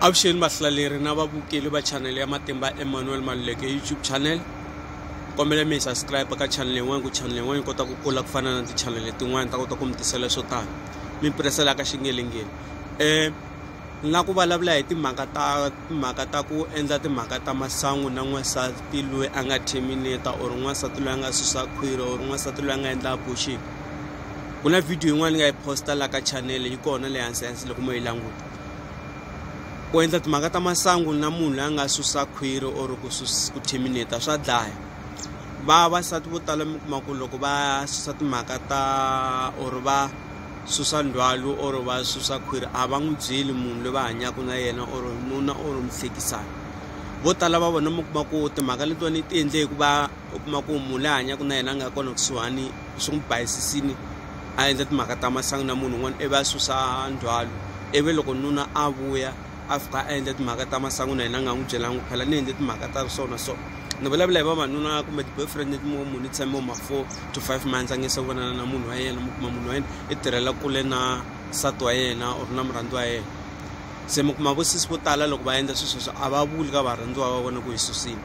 avuxeni vahlaleri na vavukeli va chanele ya matimba emmanuel maluleke youtube channel kombela mi yi subscribe ka chanele yin'wana ku chanele yin'wana yi kota ku kula ku fana na tichanele tin'wana ta kota ku mi tisela swo tala mi piresela ka xingelengeni um ni la ku vulavula hi timhaka ta timhaka ta ku endla timhaka ta masangu na n'wansati loyi a nga terminata or n'wansati loyi a nga susa khwiri or n'wansati loyi a nga endla abortion ku na video yin'wana ni nga yi posta la ka chanele yi kona le hansi hansi loko mo yi languta ku endla timhaka ta masangu na munhu loyi a nga susa khwiri or ku ku terminate swa dlaya vavasati vo tala mi kuma ku loko va susa timhaka ta or va susa ndzhwalo or va susa khwiri a va n'wi byeli munhu loyi va hanyaka na yena or nuna or muhlekisani vo tala va vona mi kuma ku timhaka letiwani ti endle hikuva u kuma ku munhu la hanyaka na yena a nga kona kusuhani swi n'wi bayisisile a endla timhaka ta masangu na munhu un'wana ivi a susa ndzhwalo ivi loko nuna a vuya a fika a endla timhaka ta masangu na yena a nga n'wi byelangi phela ni endle timhaka ta so na so ni vulavula hi vavanuna kumbe ti-boyfriend leti mo munhu i tshame ma four to five months a nge se vonana na munhu wa yena mi kuma munhu wa yena i tirhela kule na nsati wa yena or na murhandziwa wa yena se mi kuma vosesi vo tala loko va endla swilo sweswo a va vuli ka varhandziwa va vona ku hi susile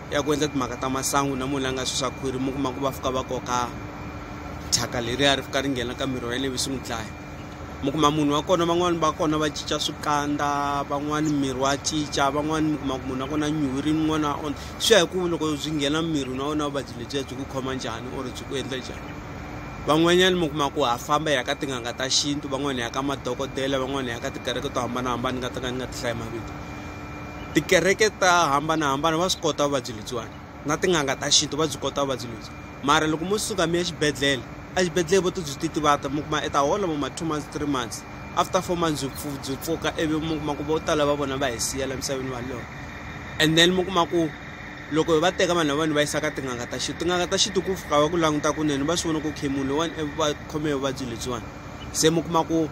ya ku endla timhaka ta masangu na munhu la nga susa khwiri mi kuma ku va fika va koka thyaka leriya ri fika ri nghena ka miri wa yeleyo swi n'wi dlaya mi kuma munhu wa kona van'wani va kona va cinca swikandza van'wani miri wa cinca van'wani mi kuma ku munhu wa kona nyuhi ri n'wana on swi ya hi ku loko byi nghena miri na wona vuvabyi lebyiya byi ku khoma njhani or byi ku endla njhani van'wanyani mi kuma ku ha famba hi ya ka tin'anga ta xintu van'wani hi ya ka madokodela van'wani hi ya ka tikereke to hambanahambana ni nga ta ka ni nga ti hlayi mavito tikereke ta hambanahambana va swi kota vuvabyi lebyiwani na tin'anga ta xintu va byi kota vuvabyi lebyi mara loko mo suka mi ya xibedhlele exibedhlele vo ti byi ti tivata mi kuma i ta hola vo ma two months three months after four months byi pfu byi pfuka ivi mi kuma ku vo tala va vona va hi siya la misaveni valona and then mi kuma ku loko hi va teka vanhu lavawani va yisa ka tin'anga ta xintu tin'anga ta xintu ku fika va ku languta kunene va swi vona ku okay munhu lowuwani va khome hi vuvabyi lebyiwani se mi kuma ku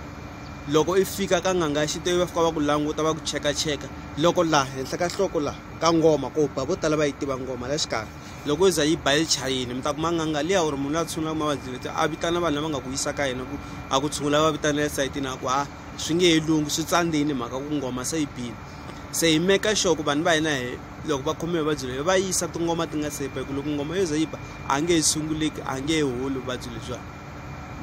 loko i fika ka n'anga ya xintu va fika va ku languta va ku chekacheka loko laha henhla ka nhloko laha ka ngoma ko ba vo tala va yi tiva ngoma la xikarhi loko yi za yi ba yi chayini mi ta kuma n'anga liya or munhu la tshungulaka mavabyi leti a vitana vanhu lava nga ku yisa ka yena ku a ku tshungula va vitana esayitini a ku ha swi nge he lungi swi tsandzini mhaka ku ngoma se yi bini se hi meka sure ku vanhu va hina hi loko va khome vuvabyi lebyi va yisa tingoma ti nga se ba hi ku loko ngoma yo ze yi ba a nge he sunguleki a nge he holi vuvabyi lebyiwani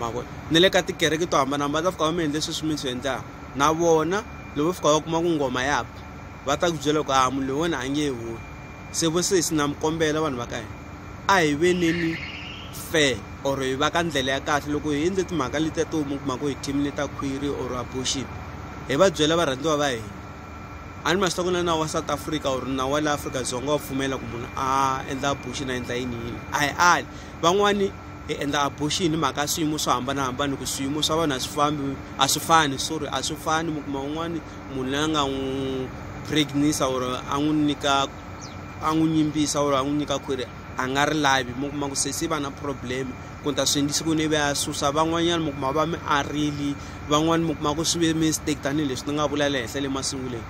ma vona na le ka tikereke to hambanahambana va ta fika va mi endle sweswi mi swi endlaka na vona loko fika va kuma ku ngoma ya ba va ta ku byela ku a munhu loyi wena a nge holi se vo sesi na mi kombela vanhu va ka hina a hi veneni fair or hi va ka ndlela ya kahle loko hi endle timhaka letiya to mi kuma ku hi thimile ta khwiri or abortion hi va byela varhandziwa va hina a ni ma swi ta ku na nawu wa south africa or nawu wa le afrika dzonga wa pfumela ku munhu a endla abortion a endla yini yini a hi ali van'wani hi endla abortion hi mhaka swiyimo swo hambanahambana hi ku swiyimo swa vanhu a swi fambi a swi fani sorry a swi fani mi kuma un'wana munhu loyi a nga n'wi pregnisa or a n'wi nyika a n'wi nyimbisa or a n'wi nyika khwiri a nga ri lavi mi kuma ku se se va na problem ku ni ta swi endlisi ku ni ve a susa van'wanyana mi kuma va mi arile van'wani mi kuma ku swi ve mistake tanihileswi ni nga vula le henhla le masunguleni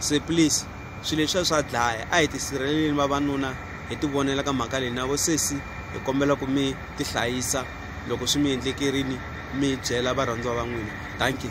se please. swilo leswiya swa dlaya a hi tisirheleleni vavanuna hi ti vonela ka mhaka leyi na vo sesi hi kombela ku mi ti hlayisa loko swi mi endlekerini mi byela varhandziwa va n'wina thank you